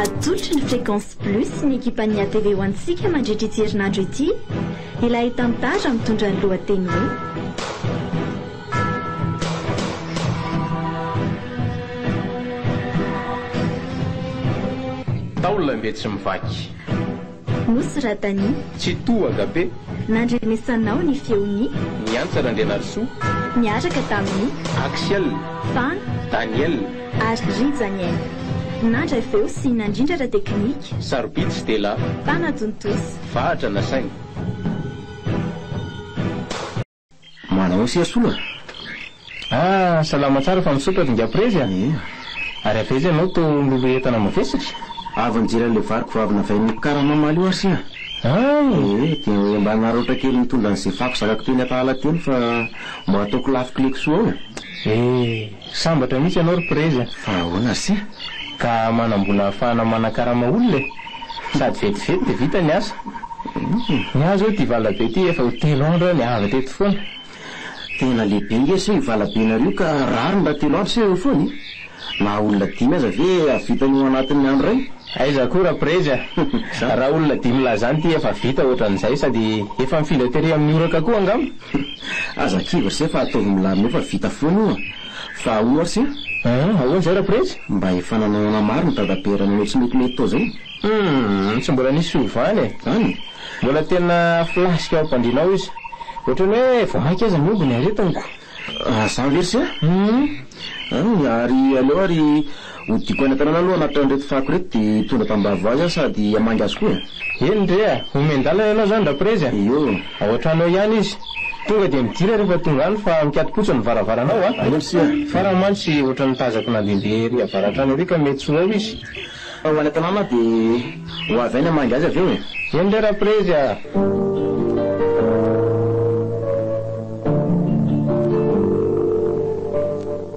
Atolotry ny Fréquence Plus ny ekipan'ny atv ho antsika mandritra ity herinandro ity ilay tantara mitondra ny lohateny hoe. Taola mbe tsy mivaky. Nosy Radani. Tsitoha Gabe. Nandrenesanao ny feon'i. Niantsa Randrianarisoa. Niaraka tamin'i. Axiel. Fan. Daniel. Ary Rijaniel. Nandry avy eo sy nandrindra ara-teknika. Sarobidy sy tela. Mpanatontosa. Vahatra nasaina. Manao sy asolo e. Ah salama tsara fa misaotra ringahy prezy a! Ary aveza ianao to miloloha entana mavesatra? Avy nijery an'ilay variko vavy navain'ny mpikara mamaly io aho sy a! Hay! Ee, dia mba naraotra kely nitondra an'izay fako zakako teny Antahala teny fa mba ataoko lafi-kle-ko soa ao e! Ee! Sambatra mihitsy ianao ry prezy a! Fa ahoana se ka manambola ahafahana manakarama olona e! Sady vetivety dia vita ny asa. Ny ahy izao ity valabe ity efa ho telo andro aho niava teto foana. Tena lehibe nge se io valabenareo io ka rariny raha telo andro se eo foana e! Na olona dimy aza ve hahavitany ho anatin'ny andro iray? Aiza koa ra prezy a! Raha olona dimy lahy izany ity efa vita ohatran'izay sady efa mifindra tery amin'ny oraka koa angamba? Aza kivy rse fa ataovy milamina eo fa vita foana io a! Fa ahoa rse? Ahh ahoa izay rapretsy? Mba efa nanao ana maro ny dadabe raha nanao tsy metimety tao izay? Humm tsy mbola nisy fiovana e! An? Mbola tena flasque ao am-pandriana ao izy. Ohatran'ny hoe vao mainka aza miombo ny aretiniko. An zany ve rse? Humm. An ary aleo ary. Ho diko any an-tanàna aloha hanatitra an'ireto fako ireto dia hitondra tambavy ho azy aho sady hamangy azy koa e! Eny ndry a! Omen-dalana ianao izany Raprezy a! Io! Ao an-tranonao ihany izy. Tonga dia midira rehefa tonga any fa mikati-potsa ny varavaranao a! Eny aloha sia! Fa raha mantsy ohatran'ny nitazako nandehandeha ery avaratr'any ery ka mety tsy ho ao izy? Fa ho any an-tanàna aho dia ho avy any hamangy azy avy eo e! Eny ndry Raprezy a!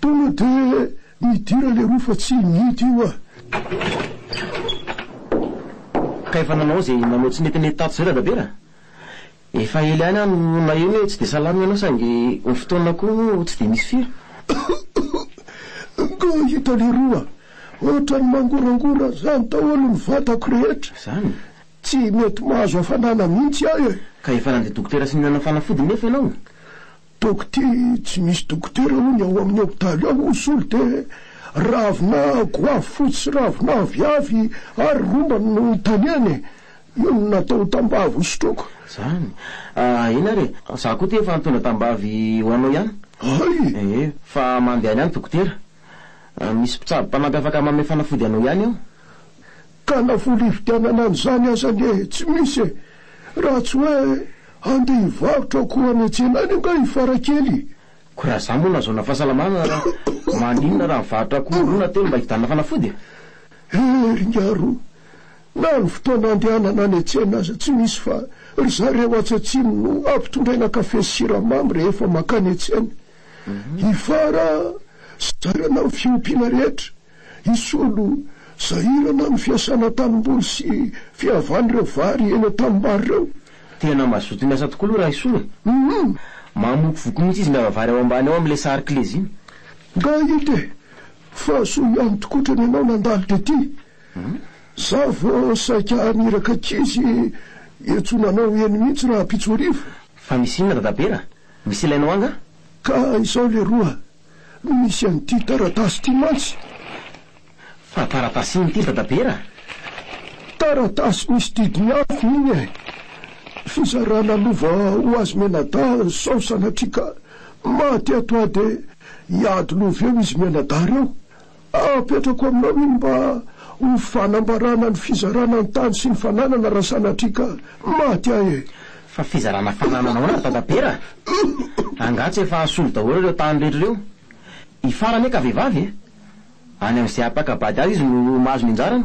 Tonga de midira le roa fa tsy midy io ah. Ka efa nanao ze nanao tsy nety nety tato zay dadabera? Efa ela ihany aho no naheno hoe tsy de salama ianao saingy ny fotoana koa moa tsy de misy firy. Nga hita le roa otrany mangorangorana zany daholo ny vatako rehetra. Zany? Tsy mety mahazo hafanana mihitsy aho eh. Ka efa nandeha dokotera sy nihinana fanafody nefa ianao? Dokte, tsy misy dokotera hono ao amin'ny hopitaly ao hono solo de ravina goavy fotsy sy ravina avy avy ary rombany no itaniany e! io no natao tambavy ho sotroiko. Zany? Ah eny ary e! za koa ty efa nitondra tambavy ho anao ihany. Hay! Ee, fa mandehana any dokotera. Misy mpitsabo mpanampy afaka mamefanafody anao ihany ao. Ka na vola hividianana an'izany aza anie tsy misy e! Raha tsy hoe handeha hivarotra koa any an-tsena any angaha i Farakely? Koa raha za moa nahazoana fahasalamana maninona raha mivarotra akoho roa na telo mba hividianana fanafody e? Hery ngaro! Na ny fotoana andehanana any an-tsena aza tsy misy fa ry zareo atsy atsimo no ampitondraina kafe sy siramamy rehefa mankany an-tsena. I Fara zara-na ny fiompiana rehetra Hisolo sahirana ny fiasana tanimboly sy fihavan'ireo vary eny an-tanimbary ireo. Tena mazoto miasa tokoa aloha Rahaisolo e! Humm! Mamokovoko mihitsy izy miava vary ao ambany ao amin'ilay sary kle ziny. Nga ito e! Fahasoa ihany tokoa otrany ianao nandalo tety. Za vo saika haniraka ankizy hiantsona anao eny mihitsy rahampitso hariva. Fa misy inona Dadabera? Misy ilainao ahy nga? Ka izao leroa no misy an'ity taratasy ity mantsy. Fa taratasy inona ity ry Dadabera? Taratasy misy didiny afo iny e! Fizarana lova ho azy mianadahy sao sanatria ka maty ato aho dia hiady lova eo izy mianadahy ireo. Apetrako aminao iny mba ho fanambarana ny fizarana ny tany sy ny fananana raha sanatria ka maty ahy e! Fa fizarana fananana ahoana ry Dadabera a! Angaha tsy efa asolo daholo ireo tany rehetra ireo? Ifara anie ka vehivavy e! Any amin'izay hampaka-bady azy izy no mahazo ny anjarany.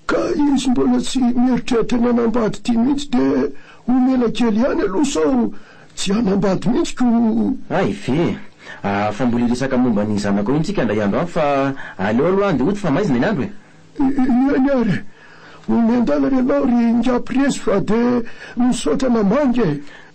Ka izy mbola tsy mieritreritra ny hanambady ity mihitsy dia omena kely ihany aloha sao tsy hanambady mihitsy ko. Hay ve! Ahh fa mbola hiresaka momba ny zanako eo intsika indray andro hafa fa aleo aloha andeha hody fa maizina ny andro e! Eny ary e! Omen-dalana ianao ry Ingahy Prezy fa dia misaotra namangy e!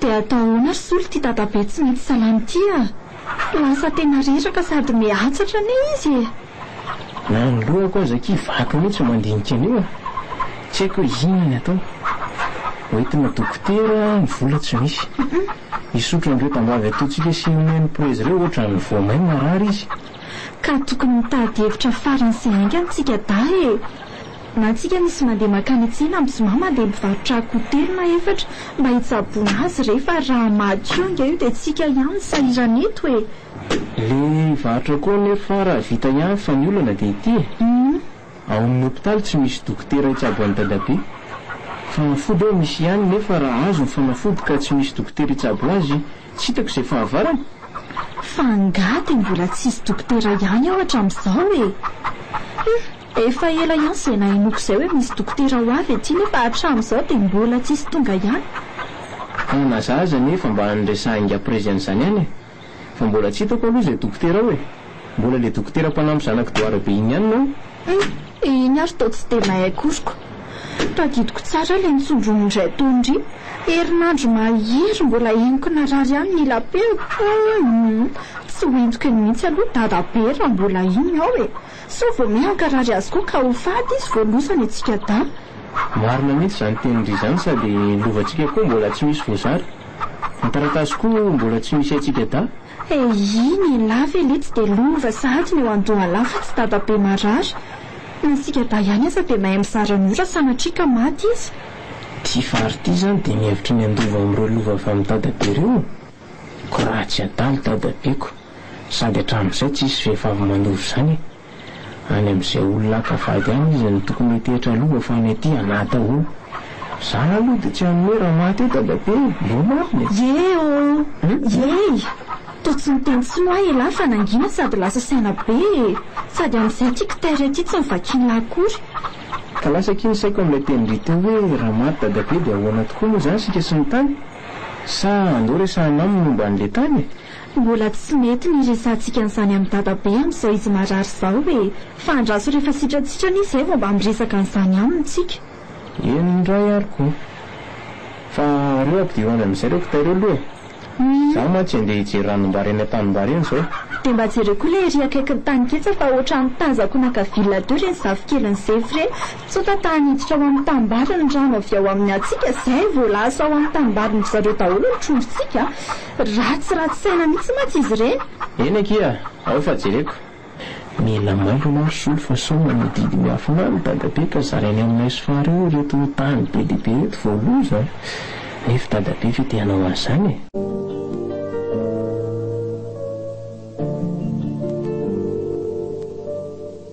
Dia atao ahoana ry zoly ity dadabe tsy mety salama ity a! Lasa tena reraka sady mihatsatra anie izy e! Na ny lohako aza akia vaky mihitsy mandinika an'io a! Tsy haiko hoe inona ny atao. Hoentina dokotera ny vola tsy misy. Hisotro an'ireo tambavy ataontsika sy ny Meni-prezy ireo ohatran'ny voamay marary izy. Ka tokony mitady hevitra farany sy haingana tsika dahy e! Na tsika misy mandeha makany an-tsena am zomama dia mivarotra akoho telo na efatra mba hitsaboana azy re fa raha maty io nge io dia tsika ihany no sahirana eto e! Le hivarotra akoho anefa fara vita ihany fa ny olana dia ity e! Ao amin'ny hopitaly tsy misy dokotera hitsabo an'i dadabe. Fanafody ao misy ihany nefa raha azo ny fanafody ka tsy misy dokotera hitsabo azy, Tsy hitako izay fahavarana. Fa angaha dia mbola tsisy dokotera ihany aho hatramin'izao e! Hum, efa ela ihany izay nahenoako izay hoe misy dokotera ho avy aty nefa hatramin'izao dia mbola tsisy tonga ihany. Hanazaza anie fa mba niresahin'ingahy Prezy an'izany ihany e! Fa mbola tsy hitako aloha izay dokotera ao e! Mbola le dokotera mpanampy zanak'i Doara be iny ihany no. Hum, iny ary toa tsy dia mahay akory ko. Tadidiko tsara le nitsondroniny ry Atondry, herinandro mahery mbola henoko narary ihany ny lapeo, hum, tsy ho entiko eny mihitsy aloha dada be raha mbola iny aho e, sao vao miha hankarary azy koa ka ho faty izy vao loza ny antsika dama. Marina mihitsy izany tenindry izany sady ny lovantsika koa mbola tsy misy voazara, ny taratasy koa mbola tsy misy antsika dahy. He iny i Lah ve letsy dia lova sahady ny eo andohalahy fa tsy dadabe marary. Na isika dahy ihany aza dia mahay mizara ny ora sanatria ka maty izy. Ty fary ty zany dia mihevitra ny handova amin'ireo lova avy amin'i dadabe ireo? Ko raha tsy adala i dadabeko, sady hatramin'izay tsisy vehivavy manova izany e. any amin'izay olona hankavady any izy no tokony hitehitra lova fa any aty an'ata o! Za aloha dia tsy hanome raha maty eo dadabe e! Mbo marina e! Yee oo! Yee! Toa tsy niteny tsiny hoa ialahy fa nangina sady lasa saina be e! Sady amin'izay ity kitaire ity tsy novakian'lah akory. Ka lasa akia ny saiko amin'ilay tenin-dry teo hoe raha maty dadabe dia ahoana tokoa moa izany isika sy ny tany? Sa andao resahina aminy momba an'ilay tany e? Mbola tsy mety ny hiresahantsika an'izany amin'i Dadabe amin'izao izy marary izao e! Fa andraso rehefa sitratsitrana izy izay vao mba miresaka an'izany aminy tsika. Eny indray ary koa. Fa aleo ampidiro ho any amin'izay ireo kitay ireo aloha e! Izaho mantsy andeha hijery ranom-bary eny an-tanim-bary eny izao. Dia mba jereo koa ilay ery akaikin'ny tany ketsa fa ohatran'ny tazako naka villa teo ireny zafikelin'i Zefy ireny. Tsota ta haniditra ao amin'ny tanimbary ny rano avy ao amin'ny antsika izay vao lasa ao amin'ny tanimbarin-dry zareo daholo ny trondrontsika. Ratsy ratsy saina mihitsy mantsy izy ireny. Eny akia, ao fa jereko. Mila mailo anao ry Soly fa sao manodidina i Afina ny dadabe ka zarainy aminay sy Fary eo ireto tany be dia be ireto vao loza a! Nefy i dadabe ve te hanao an'izany e?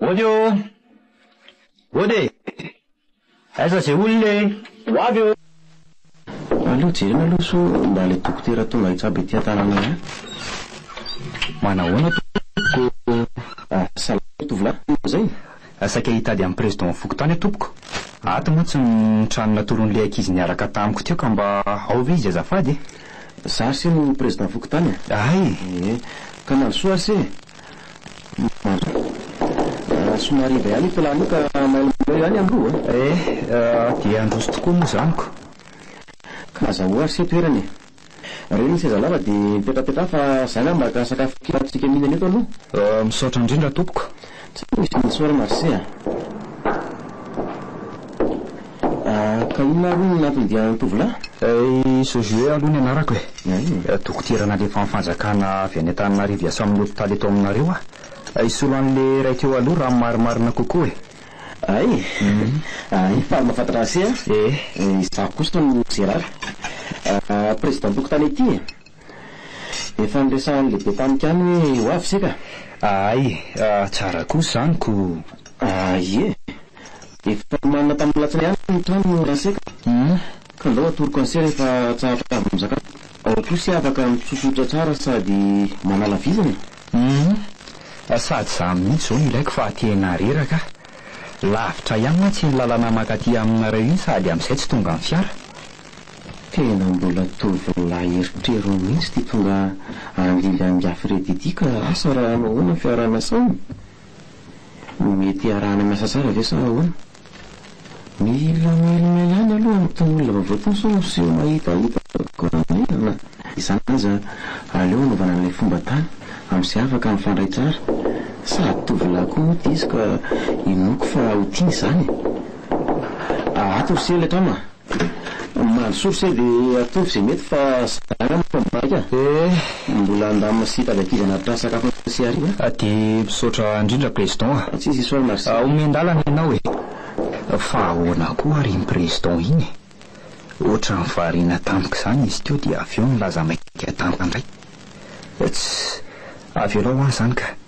Mody ô! Mody e! Aiza ze olona e! Ho avy ô! Aleo jerena aloha sao mba le dokotera tonga hitsabo ety an-tananay any. Manahoana tompoko ô! Salama ry tovolahy, manao izay? Saika hitady an'i Président ny fokontany aho tompoko. Ato mantsy ny trano natoron'ilay ankizy niaraka tamiko teo ka mba ao ve izy azafady e! Za ry se no Président fokontany a! Hay! Ee, ka mandrosoa ry se e! Marina. Somary iva ihany io plan io ka mailomailo ihany am loha. Eh, dia handroso tokoa moa izany ko. Ka aza ho arse toerana e. Reny ny seza lava dia mipetrapetraha fa za ngah maka sakafo kely hahatsiaka mihinana eto aloha. Oh, misaotra indrindra tompoko. Tsy misy inona isaorana ry se a. Ka inona ary no nampidianan'ny tovolahy? Eh, ce jeu aloha ny anarako eh. Dokotera nalefan'ny fanjakana avy any Antananarivo hiasa amin'ny hopitaly eto aminareo aho. Hisolo an'ilay iray teo aloha raha ny marimarina kokoa eh. Ay, ay fa mahafantatra an'se aho. Eh. Izaho kosa no Gérard. Président-tokotany ity eh. Efa niresahan'ny lehibe tany kany hoe ho avy isika? Ahay, tsara kosa izany ko! Ah ie! Efa nomanina tamin'ny alatsinainy ihany ny trano no hiantsika ka ndao atoroko anse rehefa tsahatra avy misakafo. Ao koa isika afaka mitsosotra tsara sady manala vizana e! Humm! Sady izaho mihitsy izao no ilaiko fa tena reraka aho. Lavitra ihany mantsy iny lalana mankaty aminareo iny sady amin'izay tsy tonga ny fiara. Tena mbola tovolahy eritrerony mihitsy ity tonga anlily an'i Gafirety ity ka asa raha hanao ahoana ny fiarahana asainy? Mety iarahana miasa tsara ve sa ahoana? Mila mihelina ihany aloha amin'itony olona vaovao itony sao miseho mahitahita koa raha maherana. Izany aza aleo hanaovana an'ilay fomba tany amin'izay afaka mifandray tsara. Sady tovolahy koa moa ity izy ka inoako fa ho tiany izany e! Ato ry sela e Trama a! Omaly source e de ataovy ze mety fa za nga mibaika mbola andamina sy hitady ankizy anatitra sakafo ny sy hariva a. De misaotra indrindra Président a. Tsy izy isao merci. Omen-dalana ianao e. Fa ahoana koa ary iny président iny e? Ohatran'ny variana tampoka izany izy teo dia avy eo nilaza maika tampoka indray. Ts. Avelao aho izany ka.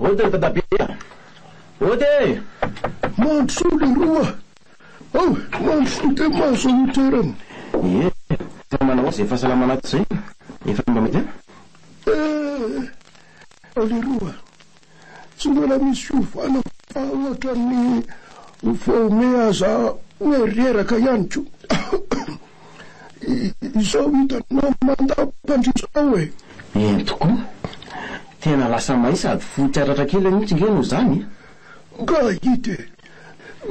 Ody ry dadabe a! Ody e! Mandrosoa leroa a! Mandrosoa dia mahazo an'io toerana. Ie, fa manao azy izay fahasalamana ato izay a! Efa mba mety a! Ee, leroa, tsy mbola misy fiovana fa ohatran'ny vao meaza hoe reraka ihany koa. Izao hitanao mandampandriaka izao e! Eny tokoa! Tena lasa may sady fotsy ratra kely mihitsy nge no zany e! Nga hita e!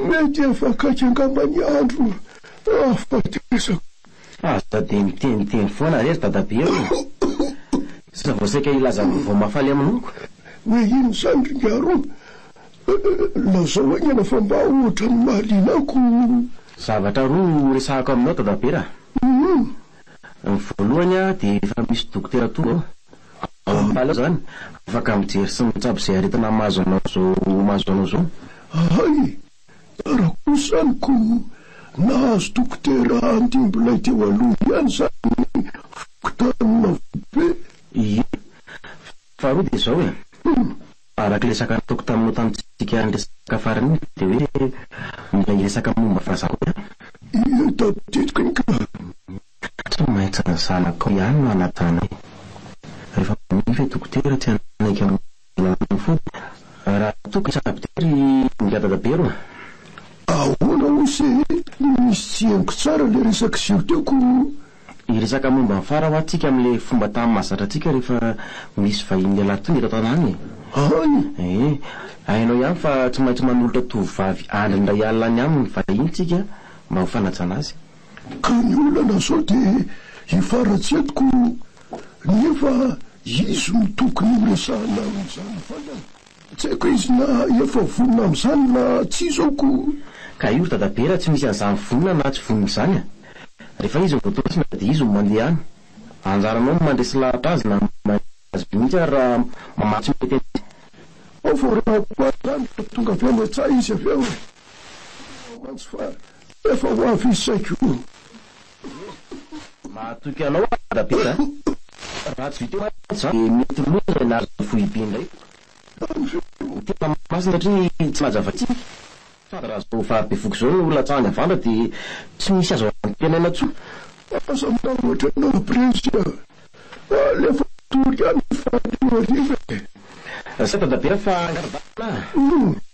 Mety efa akaiky angamba ny andro ahafatesako. Aza dia miteniteny foana re ry dadabe ô! Sisa vao saika hilaza vaovao mahafaly aminao ko! Hoe inona izany ry Miaro? Lazao haingana fa mba ohatran'ny mahaliana ahy ko! Zavatra roa no horesahako aminao Dadabe a! Ny voalohany dia efa misy dokotera tonga ao. Ao amin'ny Pale ao izany, afaka mijery sy mitsabo izay aretina mahazo anao izao mahazo anao izao. Ahay! Tara kosa izany ko! Nahazo dokotera handimby ilay teo aloha ihany izany ny fokontany Marobe. Ie! Faharoa dia izao e! Araka ilay resaka nataoko taminao tamintsika niresaka farany iny dia hoe mila hiresaka momba vazaha koa aho. Io tadidiko iny ka. Tsy maintsy ny zanakao ihany no hanajanay. Rehefa manify i dokotera tsy hanaiky amin'ny alalan'ny fody. Raha toa ka saboter i Ingahy Dadaberoa. Ahoana hoy se misy tsy henoko tsara ilay resak'iseho teo ko. Hiresaka momba ny fara hoa tsika amin'ilay fomba tany mahazatra antsika rehefa misy vahiny lehilahy tonga eto an-tanàna e! Ahoana? Ee, hainao ihany fa tsy maintsy manolotra tovovavy andriny iray alina any aminy vahiny tsika mba ho fanajana azy. Ka ny olana sao dia hifaratsy eto ko nefa izy no tokony horesahina amin'izany va lay? Tsy haiko izy na efa vonona amin'izany na tsia izao koa. Ka io ry dadabe raha tsy misy an'izany vonona na tsy vonona izany a! Rehefa izy no voatosina dia izy no mandeha any. Anjaranao ny mandresy lahatra azy na maimbo azy mihitsy ary raha mamaly tsy mety an'izay. Ao vao rehako azy izany dia tonga avy any an-tsaha izy avy eo. Tsy fantatrao mantsy fa efa ho avy izy saika o! Mahatoky anao aho Rabera a! Raha tsy viteo mantsy zany dia mety loza izay nahazo ny foibe indray koa. Ny tena masina hatria tsy mahaja vatsiny sady raha izao vahabevoka izao no latsahany avandra dia tsy misy azo antenaina tsoa. Aza manoatra anao Prezy a! Alefa tory any faty hariva e! Zay Dadabera fa ngara-dalana a!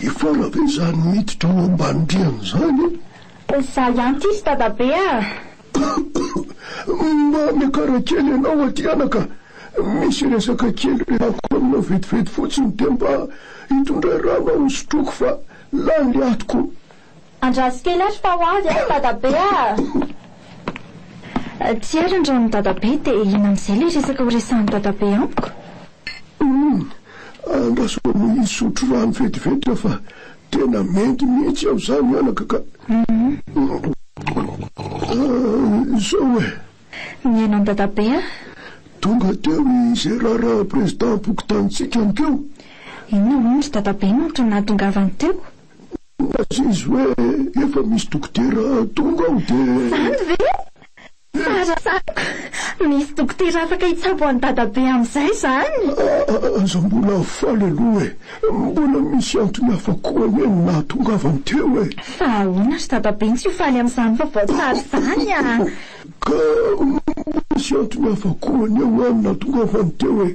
Hifoha ve izany miditra ao ambanin-driany izany e? Za ihany ity ry dadabe ah! Mba miakara kely ianao aty anaka, misy resaka kely rehako aminao vetivety fotsiny dia mba hitondray rano aho hosotroiko fa lany le atiko. Andraso kely ary fa ho avy aho dadabe ah! Tsy ary andrahon'i dadabe dia inona amin'izay ilay resaka horesahin'i dadabe amiko? Humm! Andraso aloha hisotro rano vetivety aho fa tena mendy mihitsy aho izany anaka ka! Izao e! Mihaino an'i dadabe aho. Tonga teo izay raharaha prezidam-pokontanintsika amiko eo. Inona hono ry dadabe no antony nahatongavany teo? Hoy aza izy hoe efa misy dokotera tonga ao dia. Izany ve? Tsara saka! Misy dokotera afaka hitsabo an'i Dadabe amin'izay izany! Aza mbola hafaly aloha e! Mbola misy antony hafa koa anie no nahatongavany teo e! Fa ahoana ry Dadabe no tsy ho faly amin'izany vaovao tsara izany an! Ka misy antony hafa koa ny eo any nahatongavany teo e!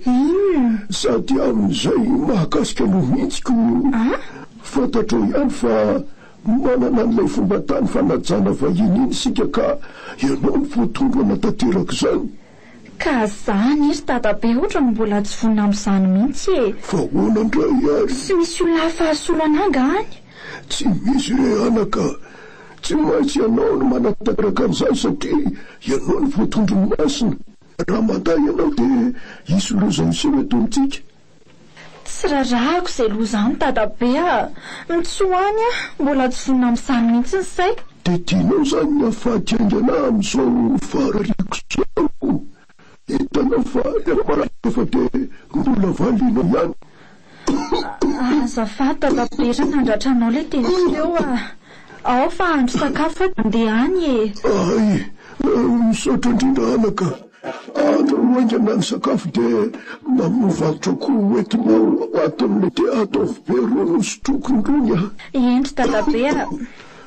Sady amin'izay mahakasika anao mihitsy ko io! Fantatrao ihany fa manana an'ilay fomban-tany fanajana vahiny iny isika ka ianao no voatondro hanatanteraka izany! Ka zany e ry dadabe hoatra no mbola tsy vonona amin'izany mihitsy e! Fa ahoana indray ary? Tsy misy olona hafa hasolo anà nga any? Tsy misy re anaka! Tsy maintsy ianao no manatanteraka an'izany satria ianao no voatondron'ny masina. Raha matahy ianao dia hisy loza hiseho eto amintsika. Tsy rarahako izay loza any dadabe a! Mitsoa any aho, mbola tsy zonona amin'izany mihitsy ny saiko. Dia tianao izany ny hahafaty haingana amin'izao faharariako izao? Hitanao fa efa maratra fa de mbola valiana ihany. Azafady Tatabery nandratra anao le teniko teo a! Ao fa hahandro sakafo aho de handeha any e! Hay! Misaotra indrindra anaka! Andro no haingana ny sakafo de mamovakotra ko ho entinao ato amin'ity ataovy be roa nosotroko irony a! Hendry Dadabe a!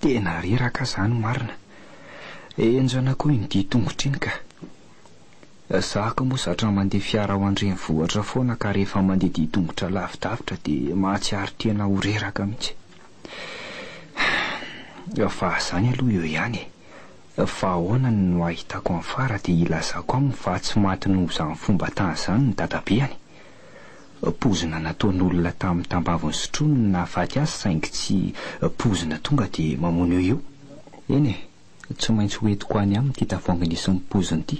Tena reraka zany marina. Enjana koa iny dia tongotra iny ka. Zah ko moa zatra mandeha fiara ao an-drenivohitra foana ka rehefa mandeha dia tongotra lavidavitra dia mahatsiaro tena ho reraka mihitsy. Fa zany aloha eo ihany e. Fa ahoana ny no ahitako an'i Fara dia ilazako aminy fa tsy maty noho izany fomba tany izany ny dadabeany. Poizina nataon'olona tamin'ny tambaviny sotroiny no nahafaty azy saingy tsy poizina tonga dia mamono eo io. Eny e, tsy maintsy ho entiko any aminy ity tavoahangy nisy ny poiziny ity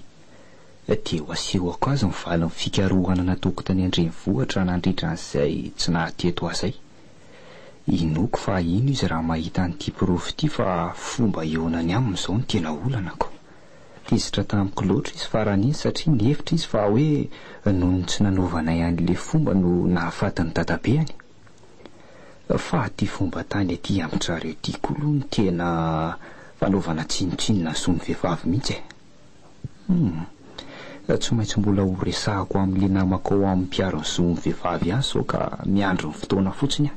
dia ho asehoko azy ny valin'ny fikarohana nataoko tany an-drenivohitra nandritra an'izay tsy nahateto ahy izay. Inoako fa hino izy raha mahita an'ity porofo ity fa fomba hihaonany aminy izao no tena olanako. Tezitra tamiko loatra izy faran'iny satria nihevitra izy fa hoe noho ny tsy nanaovanay an'ilay fomba no nahafaty ny dadabeany. Fa aty fomba tany aty amin-dry zareo ity koa aloha no tena fanaovana tsinontsinona ny zon'ny vehivavy mihitsy e. Humm. Tsy maintsy mbola horesahako amin'ilay namako ao amin'ny mpiaro ny zon'ny vehivavy ihany sao ka miandry ny fotoana fotsiny aho.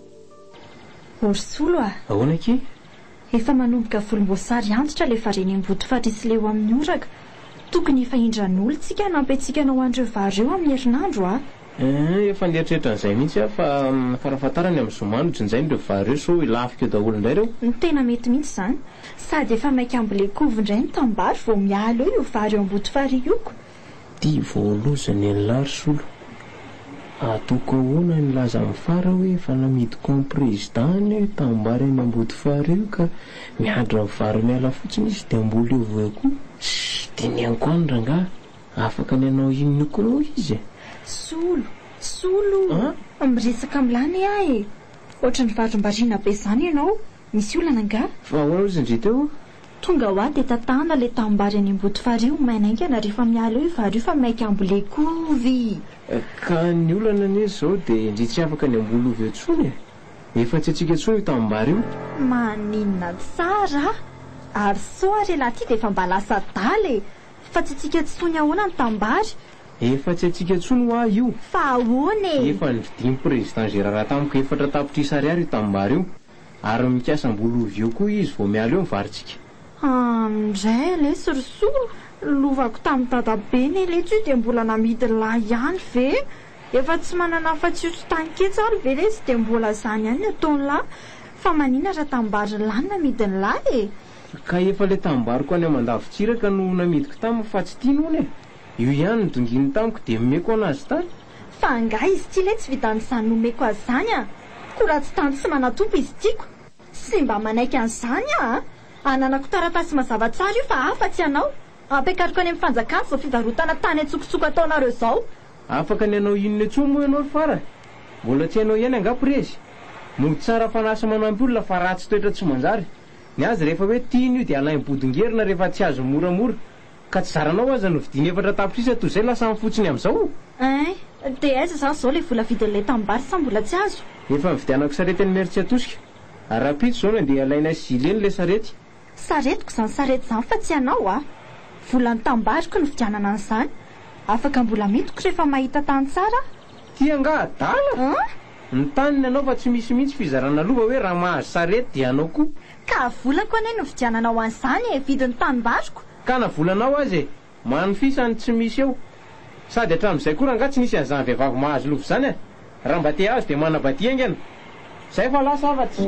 Orisolo a! Ahoana akia? Efa manomboka volomboasary antitra le varene mboto farisy leo amin'ny oraka. Tokony efa indran'olo tsika hanampy antsika anao an'ireo vary ireo amin'ny herinandro a! Eeh, efa nieritreritra an'izay mihitsy aho fa farafahatarany amin'ny zoma no jinjaina ireo vary ireo sao hilafika eo daholo indray ireo. Ny tena mety mihitsy izany. Sady efa maika ambolen-kovy indray ny tanimbary vao miala eo io vary eo am-boto farihy io ko! Ty voaloza ny an'i Lars olo. Atoko ahoana ny laza am fara hoe efa namidy camp président ny tanimbary any Ambodifara io ka miandry ny vary miala fotsiny izy dia mbola eo vo ko. Tsy dinihako any rangahy, afaka ny hanao inona koa moa izy e? Solo, solo o! Miresaka am lany ah e! Ohatran'ny varimbariana be zany ianao, misy olana angaha? Fa ahoana ozy ndry teo? Tonga hoa de tatahana le tanimbary any amboto farihy ho maina aingana rehefa miala eo i vary io fa maika ambolehy koa ovy! Ka ny olana anie izao dia ndry tsy afaka ny hamboly ovy eo intsony e! Efa tsy antsika intsony io tanimbary io! Maninona tsara a! Ary sao ary elah ty dia efa mba lasa adala e! Fa tsy antsika intsony ahoana ny tanimbary? Efa tsy antsika intsony hoa io! Fa ahoana e! Efa ny vidin'i Président Gérard tamiko efatra tapitrisa ariary io tanimbary io! Ary mikasa mbola ho vieux koa izy vao miala eo ny varintsika. Aa ndray aleha sorisory, lovako tamin'i dadabe ny aleha teo dia mbola namidy lay ihany ve? Efa tsy manana afa-tsy io tsy tany ketsy ary ve lesy dia mbola izany ihany ny ataony lahy? Fa manina raha tanimbary lahy no namidy ny lay e? Ka efa ilay tanimbariko any Amandavintsiraka no namidiko taminy fa tsy tiany hono e! Io ihany no donginy tamiko dia nomeko an azy tany. Fa angaha izy ity letsy vidan izany nomeko azy izany an! Ko raha tsy tany tsy manatompo izy tiako. Tsy mba manaiky an izany aho an! Ananako taratasy mazava tsara io fa afa tsy anao. Ampiakariko any am fanjakana izao fivarotana tany antsokosoko ataonareo izao. Afaka ny hanao inona intsony moa ianao ry Fara? Mbola tsy hainao ihany angaha prezy? Mody tsara fanahy sy manampy olona fa ratsy toetra tsy manjary. Ny azy rehefa hoe tiany io dia alainy bodongerona rehefa tsy azo moramora. Ka tsy zaranao aza no vidiny efatra tapitrisa toy izay lasa ny fotsiny amin'izao? Eeh, de aiza zany zao le vola vidin'ilay tanimbary sa mbola tsy azo? Efa nividianako sarety an'i Meritsy Atosika. Ary rahampitso zao no andeha halainay sy Gileny le sarety. Saretiko zany sarety zany fa tsy anao a! Volan'ny tanimbariko nividianana an'izany. Afaka mbola midiko rehefa mahita tany tsara aho. Ty angaha adala? An? Ny tany ny anao fa tsy misy mihitsy fizarana lova hoe raha mahazo sarety dia anao koa. Ka vola koa anie novidiananao ho an'izany e, vidin'ny tanim-baroko. Ka na volanao aza e, manfisa ny tsy misy eo. Sady hatramin'izay koa rangah tsy nisy an'izany vehivavy mahazo lova izany eh. Raha mba te-hahazo dia manabadia haingana. Izay fa lasa afatsy.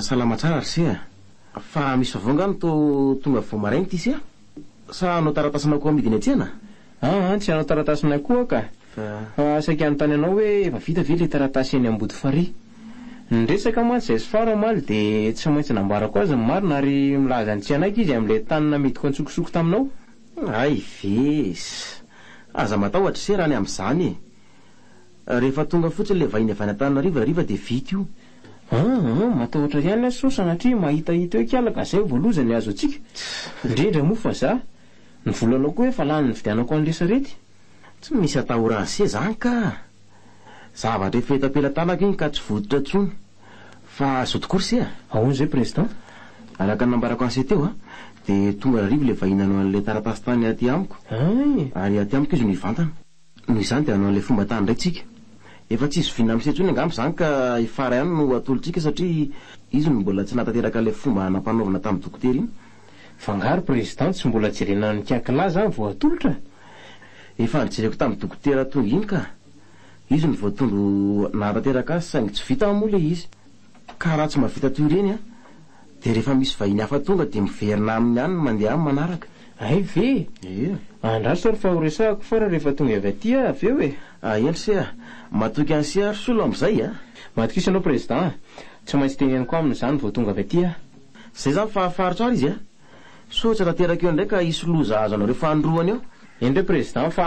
Salama tsara ry se a! Fa misy vaovao nga no to tonga vao maraina ity se a! Sa hanao taratasinao koa amidy eny an-tsena? Aa tsy hanao taratasinay koa ka! Fa saika hanontany anao hoe efa vita ve ilay taratasy eny Ambodifarihy? Ny resaka mantsy izay sfar omaly dia tsy maintsy nambarako azy ny marina ary milaza ny tsy hanaiky izy amin'ilay tany namidiko antsokosoko taminao. Hay ve! Aza matahotra ry se raha ny amin'izany e! Rehefa tonga fotsiny le vahiny avy any Antananarivo hariva de vita io. An! an! matahotra ihany aho sao sanatria mahita hita eo ikala ka zay vao loza ny azo antsika. Indrindra moa fa za. Ny volanao koa efa lany nividianako an'le sarety. Tsy misy atahora an'se zany ka! Zavatra efa eto am-pelatanako iny ka tsy vototra tsony. Fa zao tokoa ry se a! Ahoana zay Président? Araka ny nambarako an'se teo a, de tonga hariva le vahiny nanao an'le taratasy tany aty amiko. Ay! Ary aty amiko izy no hivantana. Noho izany dia hanao an'ilay fomba tany indray tsika. Efa tsisy vina miseho intsony angamba izany ka i Farah ihany no atolotsika satria izy no mbola tsy nahatateraka ilay fomba nampanaovina tamin'i Dokotera iny. Fa nga ry Président tsy mbola jerena ny cas k'lah zany vao atolotra? Efa nijereko tamin'i Dokotera tonga iny ka. Izy no voatondro nahatanteraka azy saingy tsy vita moa ilay izy. Ka raha tsy mahavita toy ireny an, dia rehefa misy vahiny hafa tonga dia miverina aminy ihany ny mandeha amin'ny manaraka. Hay ve? Ee. Andraso ary fa ho resahako foana rehefa tonga avy aty aho avy eo e! Ah eny se ah! Matoky an'i se ary solo amin'izay ah! Matokisa anao Prezidà ah! Tsy maintsy teneniko aminy izany vao tonga avy aty aho. Izay izany fa hafaritro ary izy ah! Sao tsy hatanteraka eo indray ka hisy loza hahazo anareo fahanroana eo. Eny re Prezidà fa.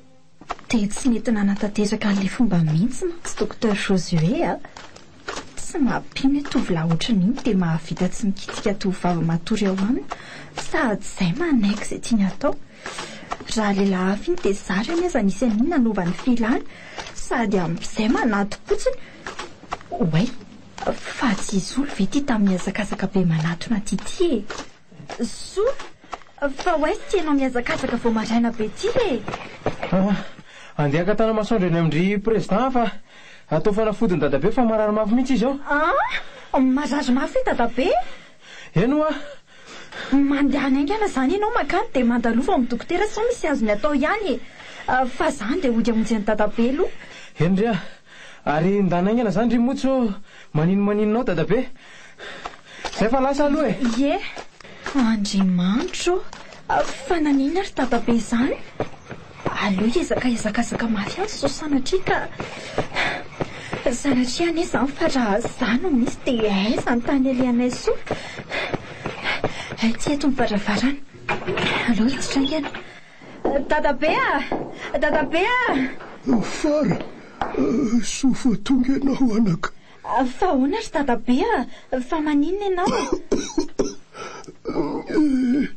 Dia tsy nety nanatanteraka an'ilay fomba mihitsy mantsy Docteur Josué a! Tsy mampino hoe tovolahy ohatran'iny dia mahavita tsy mikitika tovovavy matory ao aminy sady izay manaiky izay tiany atao. Raha ilay lafy iny dia zary anie aza nisy an'iny nanova ny filany sady amin'izay manati-potsiny. Oay! Fa tsy hisolo ve ity tamin'ny hazakazaka be manatona an'ity ity e? Zo, fa ho aiza ity ianao mihazakazaka vao maraina be ity e? Awa, andeha haka tana-masoandro eny amin-dry Prezidà aho fa atao fanafodin'i Dadabe fa marary mafy mihitsy izy ao. An, marary mafy i Dadabe e? Eny hoa. Mandehana haingana izany ianao mankany dia mandalova ao amin'ny dokotera sao misy azony atao ihany e. Fa izany dia hody hamonjy an'i Dadabe aloha. Eny re a! Ary ndà naingana zany ry Motso ô! Manino maninona ao Dadabe? Zay fa lasa aloha e! Ie! Andriamanitro ô! Fa naninona ry Dadabe zany? Aleo hiezaka hiazakazaka mafy azy sao sanatria ka Sanatria anie zany fa raha za no misy dia aiza ny tany alehanay soa? Aty eto ny varavarana. Aleo hiditra aingana. Dadabe ah! Dadabe ah! Fara, soa vao tonga ianao anaka. Fa ahoana ry Dadabe ah! Fa maninona ianao? Eh!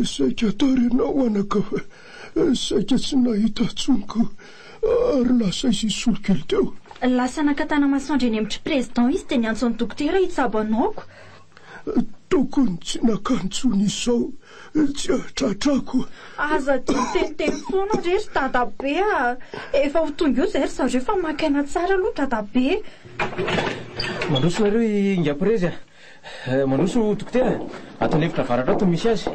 Saika tara ianao anaka fa saika tsy nahita intsony ko ary lasa izy hisolo kely teo. Lasa naka tanamasoandro eny amin-dry Président izy dia niantso an'i Dokotera hitsabo anao ko Tokony tsy naka ntsony izao tsy atratrako. Aza dia miteniteny foana re ry dadabe a! Efa ho tonga eo izay ry zareo fa maka aina tsara aloha dadabe e! Mandroso nareo i Ingapirezy a! Mandroso dokotera, ato an'efitra avaratra ato no misy azy.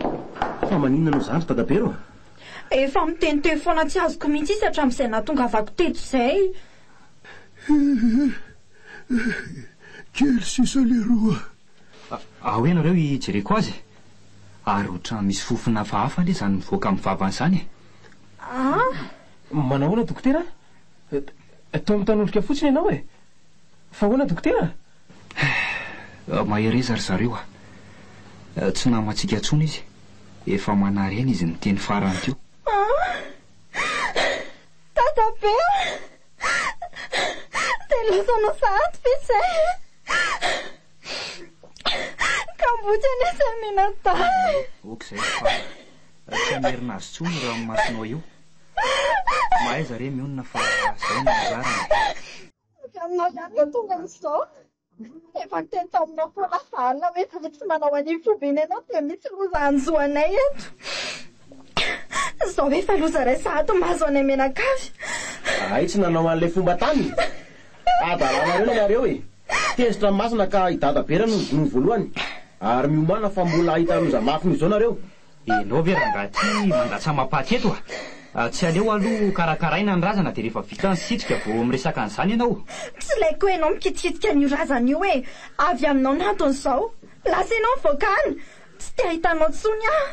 Fa maninona no zany ry dadabe rô? Efa miteniteny foana tsy azoko mihitsy izy hatramin'izay nahatongavako teto izay. Kely sisa leroa. Ao ianareo hijereko azy. Ary otrany misy fofona hafahafa le zany mivoaka amin'ny vavany zany e. Ah! Manahoana dokotera a? Toa mitanondrika fotsiny ianao e. Fa ahoana dokotera? Ah! Mahereza ry zareo a. Tsy namantsika intsony izy. Efa manarena izy niteny farany teo. Ah! Dadabe a! Dia lasa nasahanty ve izay? Kamboty anie izay mianadahy. Ok izay ry Faly. Tsy hamerina azy intsony io ranomasonao io. Mahaiza re mionona fa izay no anjarany e. Avy aminao ihany no tonga amin'izao. Efa niteny taminao koa lasa alina hoe za tsy manao an'io foibe ny anao dia misy loza hanjo anay eto. Izao efa loza iraisa ato mahazo anay mianakavy. Zahay tsy nanao an'ilay fomba tany. Adalanareo ilay nareo e. Tezitra ny masina ka i Dada Bera no nodinoiny voalohany. Ary miomàna fa mbola hahita loza mafy noho izao nareo. Enao ve rangahy ty mandatsa-mapaty eto a! Tsy aleo aloha ho karakaraina ny razana dia rehefa vita ny sitrika vao miresaka an'izany ianao? Tsy ilaiko enao mikitikitika an'io razana io e! Avy aminao ny antony izao! Lasa enao ny voakany! Tsy te hahita anao tsony aho!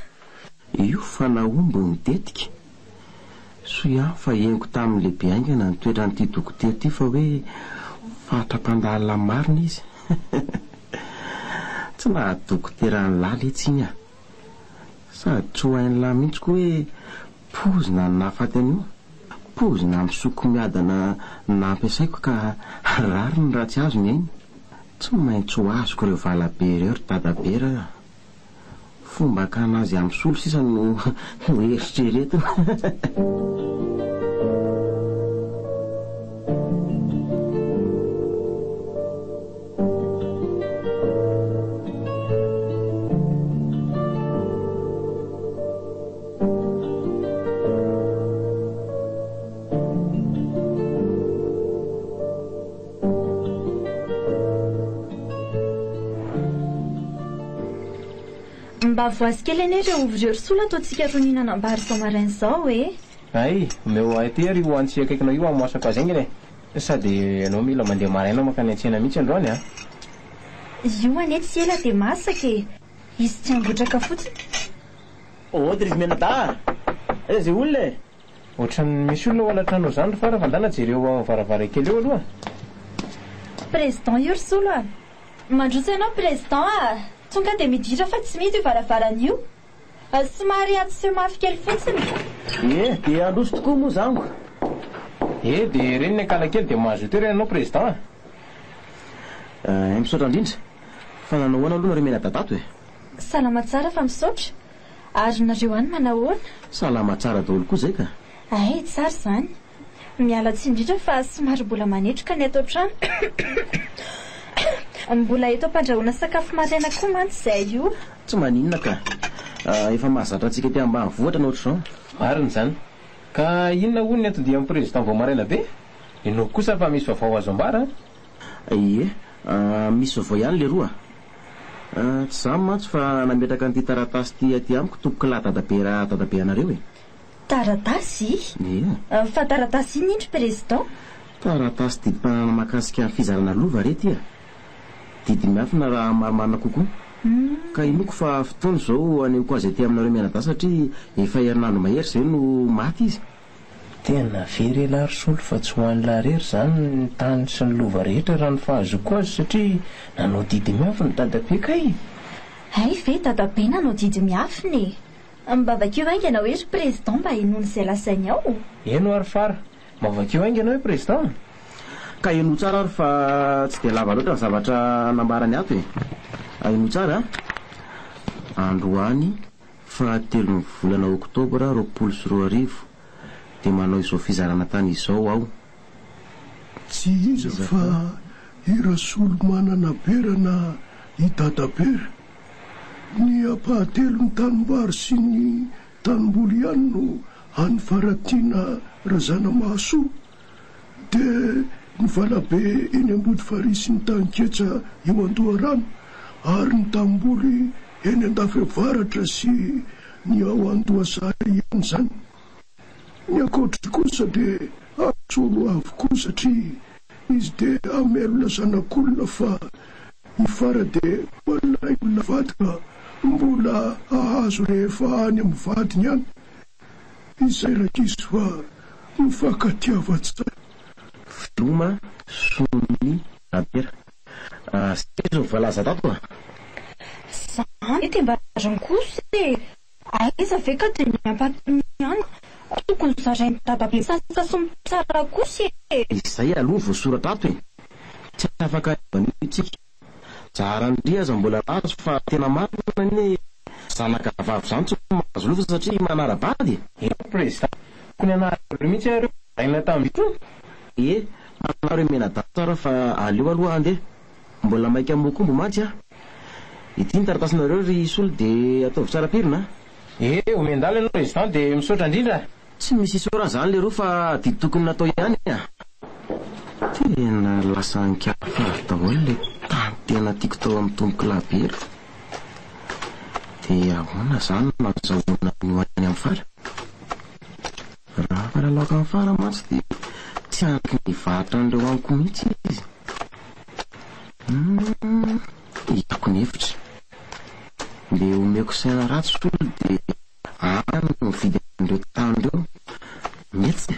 Io fa nahomby ny tetika. Soa ihany fa henoko tamin'ny lehibe haingana ny toetran'ity dokotera ity fa hoe fatra-pandalina marina izy. Tsy naha-dokotera an'i Lala etsy iny aho. Sady tsy ho hain'lah mihitsy koa hoe poizina ny nahafaty an'io. Poizina misoko miadana nampiasaiko ka rariny raha tsy azo ny ainy. Tsy maintsy ho azoko ireo valabe ireo ry dadabe ra. Fomba hakana azy amin'ny solo sisa no noeritreretina. Mba voazy kely anie ireo ovy ireo ry sola ataontsika ro nihinanam-bary izao maraina izao e! Hay, omeo ahy aty ary io antsy akaikina io hamoasako azy haingana e! Sa dia ianao mila mandeha maraina mankany an-tsena mihitsy androany an? Io anie tsy ela dia masaka e! Izy tsy hangotraka fotsiny. Ôoo dry izy mianadahy a! Aiza izay olona e? Ohatran'ny misy olona ao anatrano ao izany ry Fara fa ndana jereo ao amin'ny varavarankely eo aloha a! Président io ry Solo a! Mandroso ianao Président a! Tonga dia miditra fa tsy mihidy io varavarana io! Somary atsy sy mafy kely fotsiny. Ie, dia handroso tokoa moa za amiko. Ie, dia reny ny ankalakely dia mahazo toerana ianao Président a! Ee, misaotra indrindra. Fa nanao ahoana aloha nareo mianadadato e? Salama tsara fa misaotra. Ary nareo any manahoana? Salama tsara daholo koa izay ka. Hay, tsara izany. Miala tsiny indrindra fa somary mbola manetroka ny ato an-trano. Mbola eto am-pandrahoana sakafo maraina koa mantsy izahay io. Tsy maninona ka. Efa mahazatra antsika aty ambanivohitra ny ohatr'izao. Marina izany. Ka inona hono ny anton-dian'ny President vao maraina be? Inoako kosa fa misy vaovao azo ambara an! Ie, misy vaovao ihany leroa. Tsy izaho mantsy fa nametraka an'ity taratasy ity aty amiko tompokolahy Dadabe Dadabe anareo e. Taratasy? Ia. Fa taratasy inona indry Président? Taratasy didim-pananana mahakasika ny fizarana lova re ity a! Didy miafina raha marimarina kokoa. Ka inoako fa fotoana izao hanehoako azy aty aminareo mianadahy satria efa herinandro mahery izay no maty izy. Tena very elah ry Solo fa tsy ho an'lah rery izany ny tany sy ny lova rehetra raha ny fahazoako azy satria nanao didy miafina dadabe kay! Hay ve dadabe nanao didy miafina e! Mba vakio haingana hoe ry président mba henoana izay lazainy ao? Heno aho ry fara. Mba vakio haingana hoe président a! Ka henoy tsara ary fa tsy dia lava loatra ny zavatra nambarany ato e! Henoy tsara a! Androany fahatelon'ny volana oktobra roapolo sy roa arivo dia manao izao fizarana tany izao aho. Tsy iza fa i Rasolomanana Bera na i Dada Bera. Ny ampahatelon'ny tanimbary sy ny tanimboly ihany no an'i Faratiana Razanamahasoa. Dia ny valabe eny Ambodifarihy sy ny tanin-ketsa eo Andoharano ary ny tanimboly eny Andafiavaratra sy ny ao Andohasary ihany izany. Ny ankoatr'izay kosa dia asolo avokoa satria Izy dia hamelona zanak'olona fa i Fara dia hoan'ilay olona vady ka mbola hahazo rehefa any amin'ny vadiny any. Izay Rakisy fa mifankatiavan-tsaina. Veloma sonin'ny Rabera. Zay zao ny voalaza tato a. Zany de mba azony kosa e! Aiza ve ka dia ny ampatimiana. Tokony zarain'i dadabe sasa sy mitsara kosa e! Izay aloha voasoratra ato e! Tsy afaka ivanio tsika. Zaharandria aza mbola mahazo fa tena marina anie zanakavavy zany tsy mahazo loza satria manara-bady e! Eny prezida, tokony hanarareo mihitsy iareo, zaraina tamin'intsony. Ee, manao re menadanta ra fa aleo aloha andeha Mbola maika mokombo mantsy a! Ity ny taratasinareo ry Soly de ataovy tsara pirina a! Ee omen-dala ianao resident de misaotra indrindra a! Tsy misy isaorana zany leroa fa didy tokony natao ihany a! Tena lasa ankiafiavy daholo le tany tena tiako tao amin'ny tompoko lahy be ry! De ahoana zany no azahoana ny ho any amin'ny fara? Raha afaka laoka mifara mantsy dia tsy haniky ny varotra an'ireo amiko mihitsy izy. Humm hitako ny efitra. Mbe omeko saina ratsy hono dia any no mividy an'ireo tany ireo. Mety e.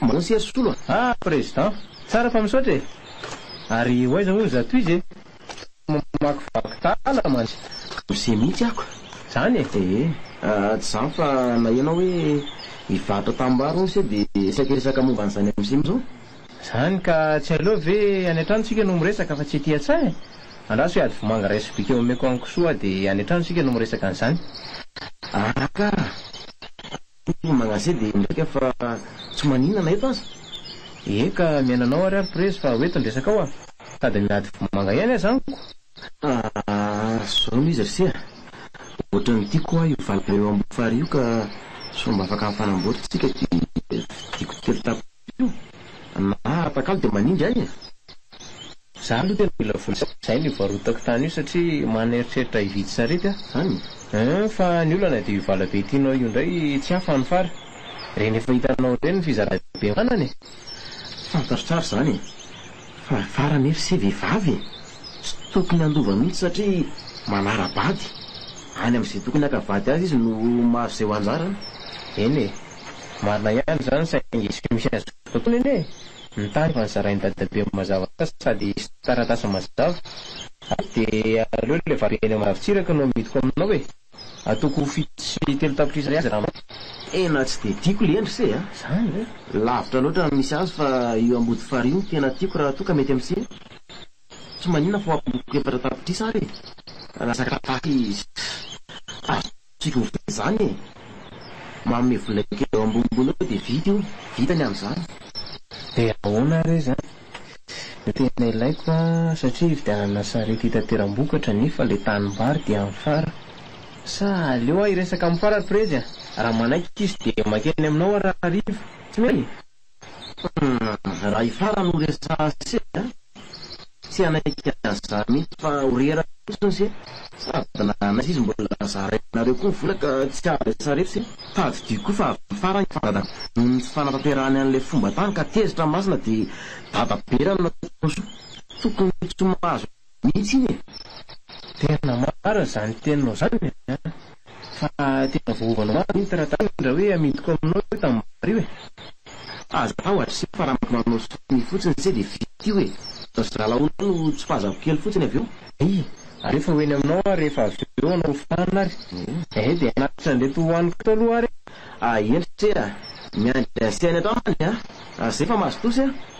Mahoa sia solo a! Ah président! Tsara fa misaotra e! Ary ho aiza hono za toiza e! Tsy mamakivaky tala mantsy! Miseho mihitsy ako! Zany e! Ee! Tsy zany fa naheno aho hoe hivarotra tanimbary hono se de saika hiresaka momba an'izany amzay amzao! Zany ka! Tsy aleo ve any an-trano tsika no miresaka fa tsy ety an-tsaha e! Andraso hoe ady vomanga ray sobika eo omeko an'i Kisoa de any an-trano isika no miresaka an'izany! Ah ka! Ny magnase dia midika fa tsy maninana eto aza. Eka miaina anao ary ary prezy fa ho eto ny resakao a! Sady miady vomanga ihany aza amiko. Ahh zao no izy ry se a! Ohatran'ny tiako hoa io valala eo ambony farihy io ka sao mba afaka mifanamboatra tsika dia vidiako telo tapa. io na atakalo dia manindry ahy e! Za aloha tena mila vola sy zay no hivarotako tany io satria manana eritreritra hividy sarety aho eeh fa ny olana dia io valabe tianao io indray tsy ahy fa ny fara reny efa hitanao ireny ny fizarana be manana e! Fantatro tsara izany e! Fa fara nefa se vehivavy e! Tsy tokony handova mihitsy satria manara-bady, any amin'izay tokony haka vady azy izy no mahazo izay ho anjarany, eny e! Marina ihany izany saingy tsy misy azoko atao anie e! Ny tany efa nozarain'i dadabe mazava tsara sady hisy taratasy mazava ary dia aleo ilay vato eny Ambohidavintsiraka no amidiko aminao e! Ataoko fito sy telo tapitrisa ariary raha maty. Tena tsy dia tiako lendry se a! Zany ve? Lavitra loatra ny misy azy fa io Ambodifary io no tena tiako raha toa ka mety amin'se e! Tsy maninona fa ho ambohiko efatra tapitrisa ary e! Raha sakafo izy. Azoko. Tiako mividy an'izany e! Manome vola kely eo ambonimbony eo dia vita io, vita ny amin'izany. Dia ahoana ary izany? Ny tena ilaiko an, satria hividianana sarety hitateram-bokatra nefa ilay tanimbary dia amin'ny fara. Sa aleo aho hiresaka amin'ny fara ry prezy a! Raha manaiky izy dia makeny aminao aho raha hariva. Tsy mety e! Humm raha ifara no resaha se a! tsy hanaiky azy za mihitsy fa ho rera fotsiny se sady na hanaiza izy mbola zarainareo koa ny vola ka tsy azo resaha reto se tadidio koa fa avy ifara ny fandada noho ny tsy fanatanterahany an'ilay fomba tany ka tezitra masina dia dadabe raha ny nataony soa tokony tsy ho mahazo mihitsy iny e! Tena marina zany teninao zany a! Fa tena voaovanao mafy iny taratasy iny ra hoe amidiko aminao io tanimbary io e! Aza atao adressé fa ra mety manao sonia fotsiny se de vita io e! Fa zalaonao no tsipazako kely fotsiny avy eo. Ay! Aleo fa ho eny aminao aho rehefa avy eo hanao fahana ary eh! De hanatitra an'ireto hohaniko eto aloha ary e! Ahy endrika e! Miandry an'i Sehany ato aminy a! Ary zay fa mahazo tosy a!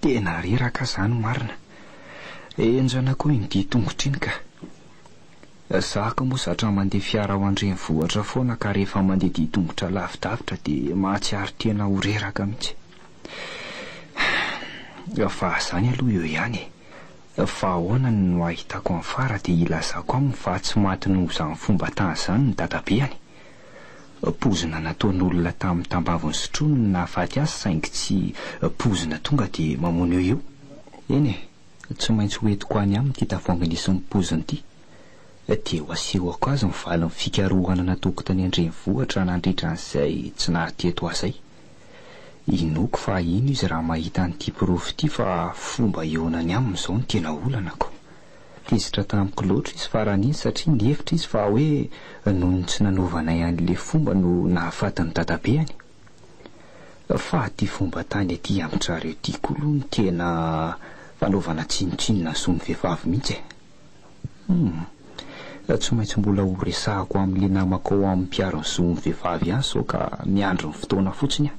Tena reraka zany marina. Enjana koa iny dia tongotra iny ka. Za ko moa zatra mandeha fiara ao an-drenivohitra foana ka rehefa mandeha dia tongotra lavidavitra dia mahatsiaro tena ho reraka mihitsy. Fa zany aloha eo ihany e. Fa ahoana ny no ahitako an'i Fara dia ilazako aminy fa tsy maty noho izany fomba tany izany ny dadabeany. Poizina nataon'olona tamin'ny tambaviny sotroiny no nahafaty azy saingy tsy poizina tonga dia mamono eo io. Eny e, tsy maintsy ho entiko any aminy ity tavoahangy nisy ny poiziny ity dia ho asehoko azy ny valin'ny fikarohana nataoko tany an-drenivohitra nandritra an'izay tsy naha teto ahy izay. Inoako fa hahino izy raha mahita an'ity porofo ity fa fomba hihaonany aminy izao no tena olanako. Tezitra tamiko loatra izy faran'iny satria nihevitra izy fa hoe noho ny tsy nanaovanay an'ilay fomba no nahafaty ny dadabeany. Fa aty fomba tany aty amin-dRareo ity koa aloha no tena fanaovana tsinontsinona ny zon'ny vehivavy mihitsy e. Humm. Tsy maintsy mbola ho resahako amin'ilay namako ao amin'ny mpiaro ny zon'ny vehivavy ihany sao ka miandry ny fotoana fotsiny aho.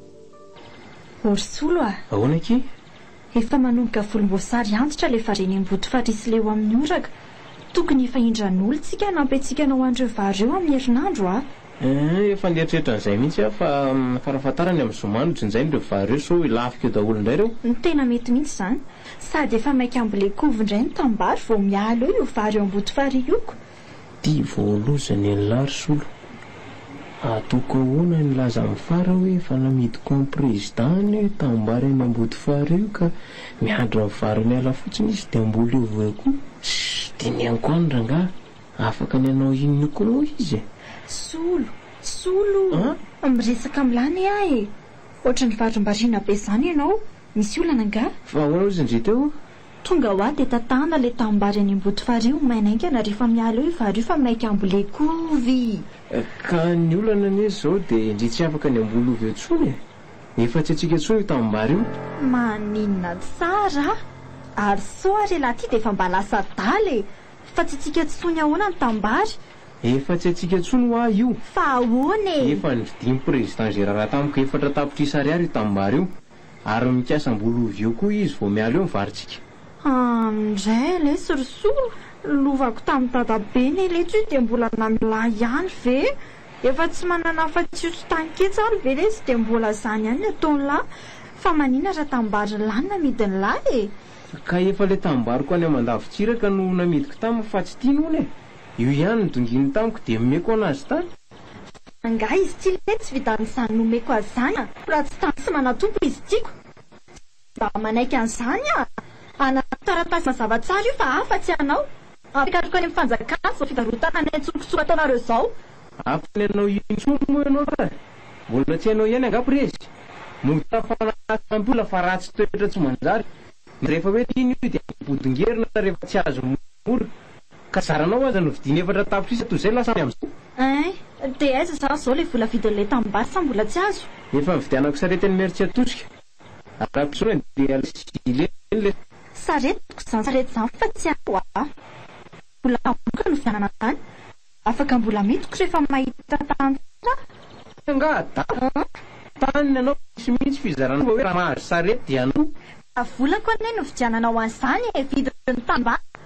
Orisolo a! Ahoana akia? Efa manomboka volomboasary antitra ilay faren'Emboto Farisileo amin'ny oraka. Tokony efa indran'olo tsika hanampy antsika hanao an'ireo vary ireo amin'ny herinandro a! Eeh, efa nieritreritra an'izay mihitsy aho fa farafahatarany amin'ny zoma no jinjaina ireo vary ireo sao hilafika eo daholo indray ireo. Tena mety mihitsy izany. Sady efa maika ambolen-kovo indray ny tanimbary vao miala eo io vary eo Ambotofarihy io ko! Ty voaloza ny an'i la risolo. Atoko ahoana ny laza amin'ny fara hoe efa namidiko an'i prezida any hoe tanimbary any ambodifara io ka miandry ny vary miala fotsiny izy dia mbola eo vo koa. Tsy dinihako any rangaha. Afaka ny hanao inona koa moa izy e? Solo, solo o! Miresaka amin'i la anie aho e! Ohatran'ny varimbariana be izany ianao, misy olana angaha? Fa ahoana ozy ndry teo? Tonga hoa dia tatahana ilay tanimbary any Ambodifarihy ho maina haingana rehefa miala eo io vary io fa maika ambolehy kovy! Ka ny olana anie izao dia indrisy tsy afaka ny hamboly ovy eo intsony e! Efa tsy antsika intsony io tanimbary io! Maninona tsara a! Ary soa ary elah ity dia efa mba lasa adala e! Fa tsy antsika intsony ahoana ny tanimbary? Efa tsy antsika intsony hoa io! Fa ahoana e! Efa nividian'i Président Gérard tamiko efatra tapitrisa ariary io tanimbary io! Ary mikasa mbola ho ovy eo koa izy vao miala eo ny varintsika. An ndray ilay sorisory lovako tamin'i dadabe neletso io dia mbola namilahy ihany ve? Efa tsy manana afatsy io sotanketsa ary ve lesy dia mbola izany ihany ny ataony lahy? Fa manina raha tanimbary lahy no namidiny lahy e? Ka efa ilay tanimbariko any Amandavintsiraka no namidiko taminy fa tsy tiany hono e! Io ihany no donginy tamiko dia omeko hono azy tany. Angaha izy ity letsy tsy vitan'izany nomeko azy izany a! Raha tsy tany sy manatompo izy tiako. Tsy mba manaiky an'izany aho. Anarako taratasy mazava tsara io fa afatsy anao. Ampikatroka any amin'ny fanjakana izao fivarotana anay tsokotsoko ataonareo izao. Ampy anao io intsony moa ianao fa mbola tsy hainao ihany angaha prezy. Mozah foana asa ampy olona fa ratsy toetra tsy manjary. Rehefa hoe tiany io dia ampodingerina rehefa tsy azo mora. Ka zaranao aza no vidiany efatra tapitrisa toy izay lasa any amin'izao. Eeh, dia aiza zany izao ilay vola vidin'ilay tanimbary sa mbola tsy azo? Efa nividianako sarety an'i Mertsiatosika. Arahako izao e, dia ilay Zileny ilay. Saretiko izany sarety izany fa tsy ahy ho'a. Vola tampoka no vidianana an'izany. Afaka mbola midiko rehefa mahita tany tsara. Tena angaha dago? Tany ny anao tsy misy fizarana fa hoe raha mahazo sarety dia anao. Ka vola koa anie no vidiananao an'izany e, vidin'ny tanimbary.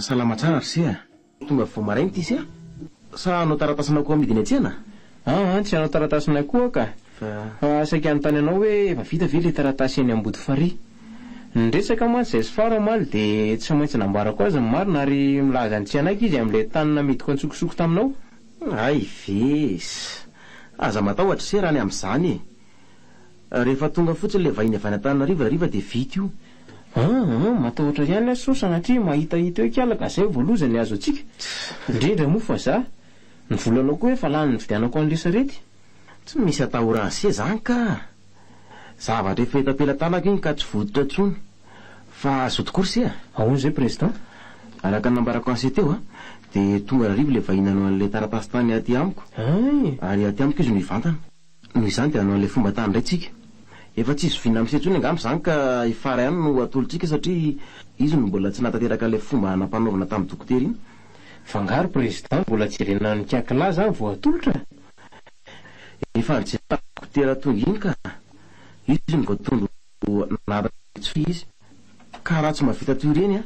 Salama tsara ry se a! Tonga vao maraina ity se a! Sa hanao taratasinao koa amidy eny an-tsena? Aa tsy hanao taratasinay koa ka! Fa saika hanontany anao hoe efa vita ve ilay taratasy eny Ambodifarihy? Niresaka mantsy izahay sy Faro omaly dia tsy maintsy nambarako azy ny marina ary milaza ny tsy hanaiky izy amin'ilay tany namidiko antsokosoko taminao. Hay ve! Aza matahotra se raha ny amin'izany e! Rehefa tonga fotsiny ilay vahiny avy any Antananarivo hariva dia vita io. An! an! matahotra ihany aho sao sanatria mahitahita eo ikalaka, zay vao loza ny azo antsika. Indrindra moa fa za. Ny volanao koa efa lany nividianako an'le sarety. Tsy misy atahora an'se zany ka! Zavatra efa eto am-pelatanako iny ka tsy vototra intsony. Fa zo tokoa ry se a! Ahoana izay Président? Araka ny nambarako an'se teo an! dia tonga hariva ilay vahiny nanao an'ilay taratasy tany aty amiko. Hay! Ary aty amiko izy no hivantana. Noho izany dia hanao an'ilay fomba tany indray tsika. Efa tsy zoviana amin'isa intsony angamba izany ka i Farah ihany no atolotsika satria izy no mbola tsy nahatanteraka ilay fomba hanampanaovana tamin'ny dokotera iny. F'angaha ry Président mbola tsy jerena an'i Kiakilà izany vao atolotra? Efa nijery tamin'ny dokotera tonga iny ka. Izy no voatondro nahatanteraka tsy fy izy. Ka raha tsy mahavita toy ireny an,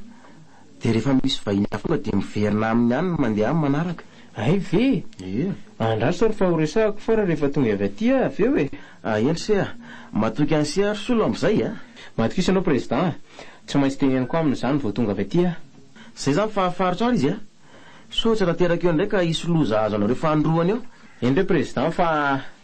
dia rehefa misy vahiny hafa tonga dia miverina aminy ihany ny mandeha amin'ny manaraka. Hay ve? Ie. Andraso ary fa ho resahako foana rehefa tonga avy aty aho avy eo e! Ah, eny se a! Matoky an'i se ary Solo amin'izay a! Matokisa anao Président a! Tsy maintsy teneniko aminy izany vao tonga avy aty aho. Izay izany fa hafaritra ary izy a! Sao tsy hatateraka eo indray ka hisy loza hahazo anareo fahandroany eo. Eny re Président fa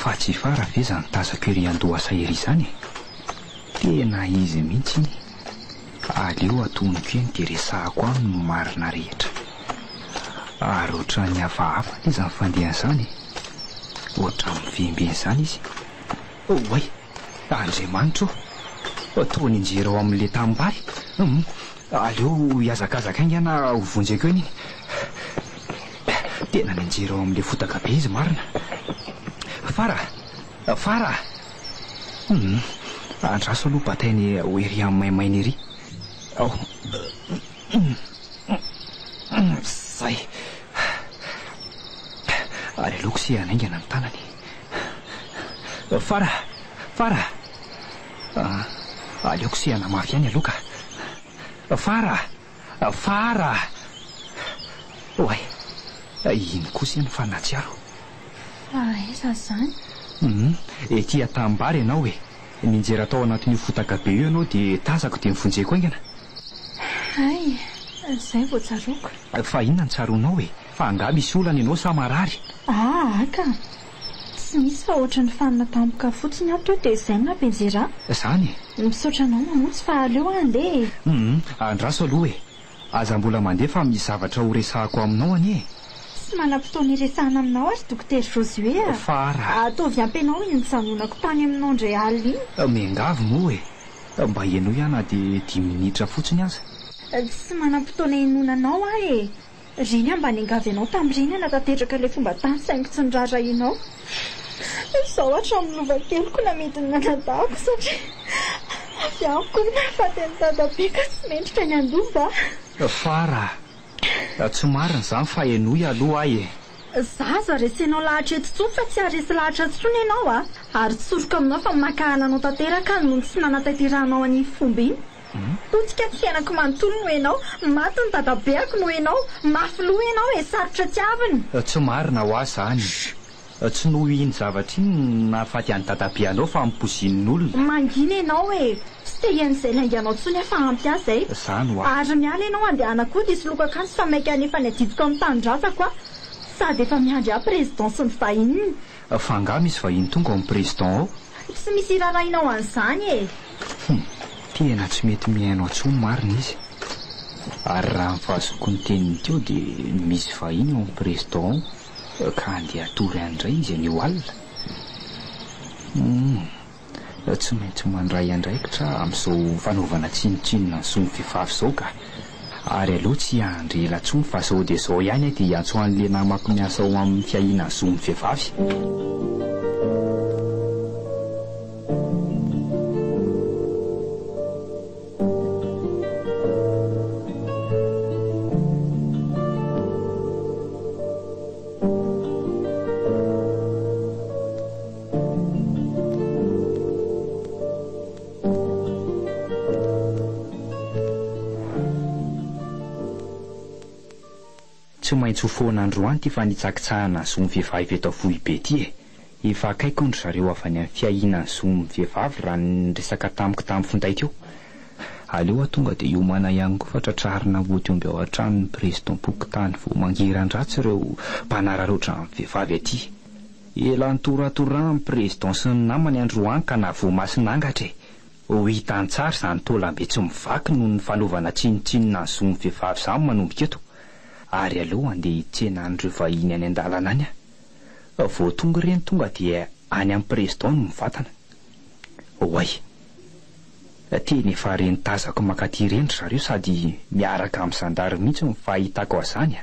Fa tsy fara ve izany tazako ery an-dohasa ery izany e? Tena izy mihitsy iny. Aleo atonoko eny dia resahako aminy ny marina rehetra. Ary ohatran'ny hafahafa anie izany fandehany izany e. Ohatran'ny mivembena izany izy. Oay! Andriamanitra ô! Toa nianjera ao amin'ilay tanimbary. Hum! Aleo hihazakazaka haingana ho vonjeko eny iny. Tena nianjera ao amin'ilay fotaka be izy marina. Fara! Fara! Hum! Andraso aloha batainy ho ery amin'ny maimaina ery. Ao! Zay! Ary aleoko se hanaingana ny tanany. Fara! Fara! Ah, aleoko sehana mafy ihany aloha ka! Fara! Fara! Oay! Ino kosa iny fa nahatsiaro. Fa aiza izany? Humm, ety Antanimbary ianao e! Nianjera tao anatin'io fotaka be io ianao dia tazako dia nivonjeko haingana. Hay! Izay vao tsaroako. Fa inona no tsaroanao e? Fa angaha misy olana ianao sa marary? Aa ka! Tsy misy fa ohatran'ny fanina tampoka fotsiny aho teo dia izay no nampianjera ahy. Izany e! Misaotra anao Mamonjy fa aleo aho handeha e! Humm, andraso aloha e! Aza mbola mandeha fa misy zavatra horesahako aminao anie e! Tsy manam-potoana hiresahana aminao ary Dokotera Josué a! Fa ra. Ataovy ampy anao iny nijanonako tany aminao indray alina iny! Miangavy moa e! Mba henoy aho na dia dimy minitra fotsiny aza! Tsy manam-potoana hinoana anao aho e! Reny aho mba niangavy anao tamin'ireny hanatanteraka ilay fomba tany saingy tsy noraharahianao. Izaho hatramin'ny lova keliko namidin'ny anadahiko satria avy amiko ny mahafaty an'i dadabe ka tsy mendrika ny handoa mba. Fara. Tsy marina izany fa henoy aloha ahy e. Izaho aza haresenao lahatra eto intsony fa tsy haharesy lahatra intsony ianao a! Ary tsoriko aminao fa mankahala anao tanteraka aho noho ny tsy nanatanterahanao an'iny fomba iny. Potika ny fiainako manontolo noho ianao, maty ny dadabeako noho ianao, mafy loha ianao e, sarotra tiavina. Tsy marina hoa izany. Tsy noho iny zavatra iny no nahafaty an'i dadabe anao fa ampoizin'olona. Mangina ianao e, tsy te hihain'izay lainga anao intsony aho fa ampy aho izay. Izany hoa. Ary miala ianao handehanakody hisoloako akanjo fa maika hanefa ny adidiko amin'ny tanindrazako aho. Sady efa miandry ahy président sy ny vahininy. Fa angaha misy vahiny tonga ao amin'ny président ao? Tsy misy irarahinao an'izany e! Hum, tena tsy mety mihaino atsony marina izy. Ary raha ny fahazoako ny teniny teo dia misy vahiny ao amin'ny président ao ka andeha hatory any indray izy anio alina. Hum. tsy maintsy mandray andraikitra amin'izao fanaovana tsinontsinona ny zon'ny vehivavy izao ka. Ary aleo tsy hiandry ela intsony fa izao dia izao ihany aho dia hiantso an'ilay namako miasa ao amin'ny fiahiana ny zon'ny vehivavy. Tsy maintsy ho foana androany ity fanitsakitsahana zon'ny vehivavy eto Foibe ity e! Efa akaiky hono ry zareo avy any amin'ny fiahiana ny zon'ny vehivavy raha ny niresaka tamiko tamin'ny finday teo. Aleo aho tonga dia hiomana ihany koa fa tratrarina hody omby ao an-trano ny Président-pokontany vao mangiran-dratsy ireo mpanararaotra ny vehivavy aty. Ela nitoratoran'ny Président sy ny namany androany ka na voamasina angatra e! Ho hita an-tsary izany taolam-be tsy mivaky noho ny fanaovana tsinontsinona ny zon'ny vehivavy izany manomboka eto. Ary aleo handeha hitsena an'ireo vahiny any an-dalana any aho. Vao tonga ireny tonga dia any amin'ny Président no mivantana. Oay! Teny efa ireny tazako mankaty ireny ry zareo sady miaraka amin'ny zandary mihitsy no fahitako azany a!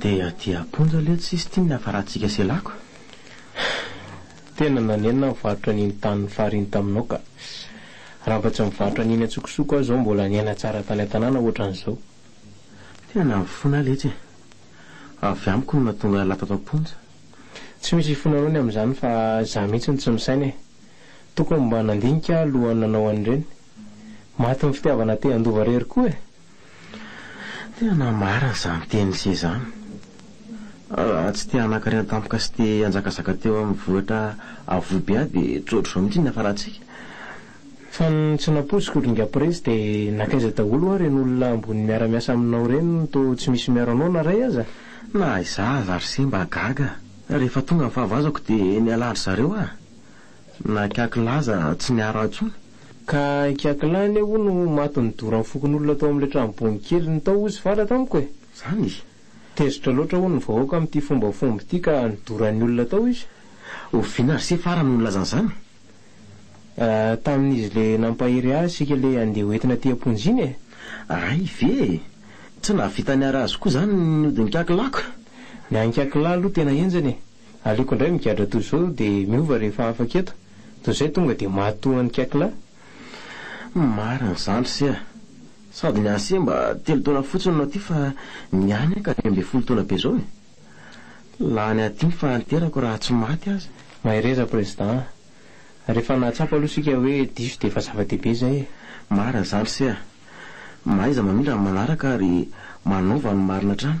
Dia aty amponja letsy sisy tim ny avaratsika sy lako eh. Tena nanenina ny varotra an'iny tanin'ny farine taminao ka. Raha mba tsy mivarotra an'iny antsokosoko aho zao mbola niaina tsara tany an-tanàna ohatran'izao. Tena nahafona ahy letsy e. Avy amiko no nahatonga ahy latato am-ponja. Tsy misy hifonanao ny amin'izany fa za mihitsy no tsy misaina e. Tokony mba nandinika aho alohan'ny nanao an'ireny. Maty ny fitiavana te handova rery koa e. Tena marina izany tenin'i se izany. Raha tsy te hanankarena tampoka sy te hanjakazaka teo amin'ny vohitra avo be aho dia tsy ohatr'izao mihitsy ny hafarantsika. Fa ny tsy nampoiziko ry Ingahy Prezy dia nankaiza daholo hoa ireny olona ambony miara-miasa aminao ireny toa tsy misy miaro anao na iray aza? Na izaho aza ry se mba gaga rehefa tonga ny fahavazako dia nialà an-dry zareo aho. Na kiakilà aza tsy niara intsony. Ka kiakilà anie hono no maty nidoran'ny fokonolona tao amin'ilay tranobonin'i Keliny tao hozy fara tamiko e! Izany izy. Tezitra loatra hono ny vahoaka amin'ity fombafomba ity ka nidoran'ny olona tao izy. Oviana r'ise fara no nilaza an'izany? Tamin'izy ilay nampahery ahy isika ilay andeha ho entina aty am-ponja iny e! Ray ve e! Tsy nahavita niara azy koa izany ny odin'ny kiakilàko. Ny an'ny kiakilà aloha tena henjana e! Aleoko indray migadra toy izao dia miova rehefa afaka eto, toy izay tonga dia matoa an'i Kekla. Humm marina zandry se a! Sady ny an'se mba telo taona fotsiny no aty fa ny any aka dimy ambin'ny folo taona be zao e! Lany aty ny fahanterako raha tsy maty aza. Mahereza Président a! Rehefa nahatsapa aloha isika hoe diso dia efa zava-dehibe izay e! Marina zandry se a! Mahaiza mamindra ny manaraka ary manaova ny marina hatrany.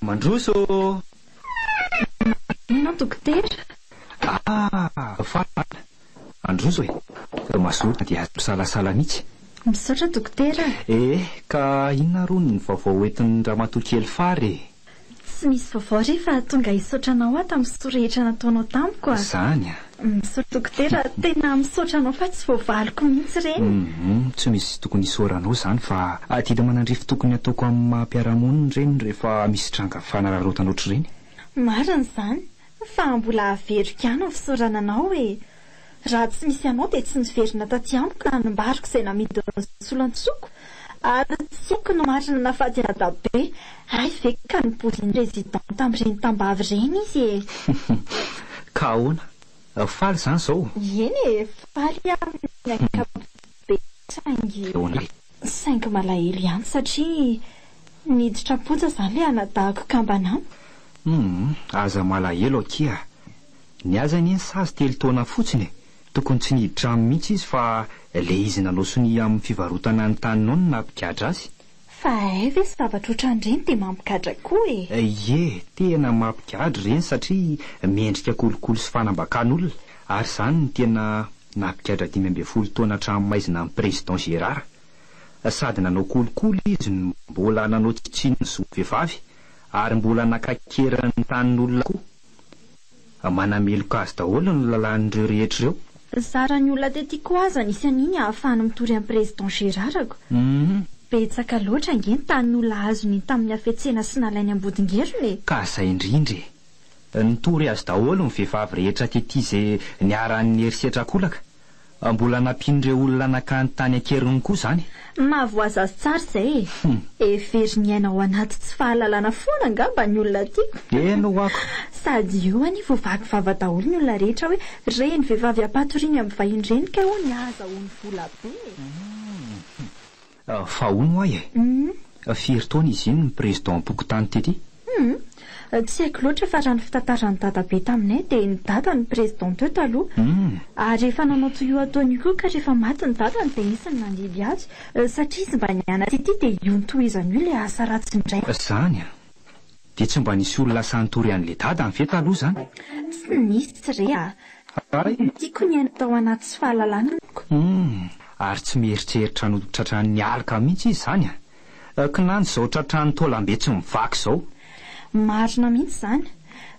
Mandroso ô! Maninona dokotera? Ah! Faly! Mandroso e! Fa mazoto dia tsy misalasala mihitsy. Misaotra dokotera. Ee, ka inona ary hono ny vaovao hoentin'ny ramatoa kely Fary e? Tsy misy vaovao re fa tonga hisaotra anao aho tamin'ny soa rehetra nataonao tamiko a! Zany a! Misaotra dokotera, tena misaotra anao fa tsy voavaliko mihitsy ireny. Humm, tsy misy tokony hisaoranao zany fa adidy aman'andrify tokony ataoko amin'ny maha mpiara-monina ireny rehefa misy tranga fanararaotana ohatr'ireny. Marina izany, fa mbola averiko ihany ny fisaorana anao e! Raha tsy misy anao dia tsy niverina taty amiko ka nambariko izay namidin'ny solontsoko ary tsy haiko na marina na faty anà Dabe. Hay ve ka nipozin'ny président tamin'ireny tambavy ireny izy e! Ka ahoana? Faly izany izao? Eny e, faly aho amin'ny ankapobeny saingy. Ahoana e? Saingy malahelo ihany satria niditra am-ponja izany ilay anadahako kambana an! Humm, aza malahelo akia, Ny azy anie sazy telo taona fotsiny e, tokony tsy nihiditrano mihitsy izy fa le izy nanao sonia amin'ny fivarotana ny tany nony napigadra azy. Fa hay ve zavatra otran'ireny dia mampigadra koa e! Ie, tena mampigadra ireny satria mendrika kolikoly sy fanambakan'olona, ary izany no tena napigadra dimy ambin'ny folo taona an-tranomaizina an'i Président Gérard. Sady nanao kolikoly izy no mbola nanao tsy tsiny ny zo vehivavy ary mbola nakaikeran'ny tanin'olona koa. Manameloka azy daholo ny lalàn'ireo rehetra ireo. Nizara ny olona tety koa aza nisy an'iny ahafahana mitory an'i Président Gérard ko. Betsaka loatra ange ny tanin'olona azony tamin'ny hafetsena sy nalainy Ambodingerona e! Ka zay indrindra e! Nitory azy daholo ny vehivavy rehetra tety izay niharan'ny herisetra akolaka. Mbola nampian'ireo olona nakany tany an-keriny koa izany e! Mahavoazazy tsara izay e! Hevery miaina ao anaty tsy fahalalana foana angamba ny olona tiako. Eny ho'ako! Sady eo anie vao vaky vava daholo ny olona rehetra hoe reny vehivavy hampatoriany amin'ny vahiny reny kay hono ny ahazahoany vola be e! Fa hono ho'a e! Firy taona izy iny no prezidam-pokontany tety? Hum, tsy haiko loatra fa raha ny fitantaran'i dadabe taminay dia ny dada no prezidam teo taloha. Ary efa nanao toy io ataony io koa ka rehefa maty ny dadany dia izy no mandidy azy satria izy mba niana tety dia io notohizany io ilay asa ratsiny indray. Zany a! Dia tsy mba nisy olona sahy nitory an'i Ledada ve taloha izany? Tsy nisy re a! Tiako ny haino tao anaty tsy fahalalana amiko. Humm! Ary tsy mieritreritra ny ho tratran'ny aloka mihitsy izy izany a! Kinanjo izao tratran'ny taolambe tsy mivaky izao. Marina mihitsy izany.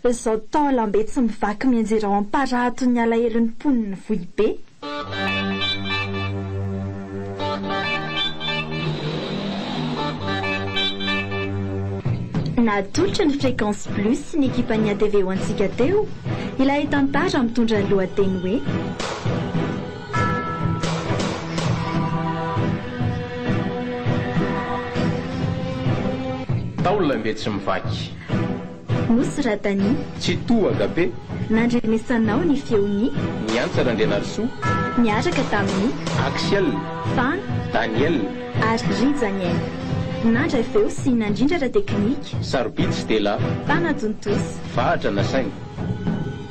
Izao taolambe tsy mivaky mianjera ao am-parahaton'ny alahelon'ny mponin'i Vohibe. Natolotra ny Fréquence Plus sy ny ekipan'ny atv ho antsika teo ilay tantara mitondra ny lohateny hoe. Tao ilay mbe tsy mivaky. Nosy Radani. Tsitoha Gabe. Nandrenesanao ny feon'i. Niantsa Randrianarisoa. Niaraka tamin'i. Axiel. Fan. Daniel. Ary Rijaniel. Nandry avy eo sy nandrindra ara-teknika. Sarobidy sy tela. Tana Jontosa. Vahatra nasaina.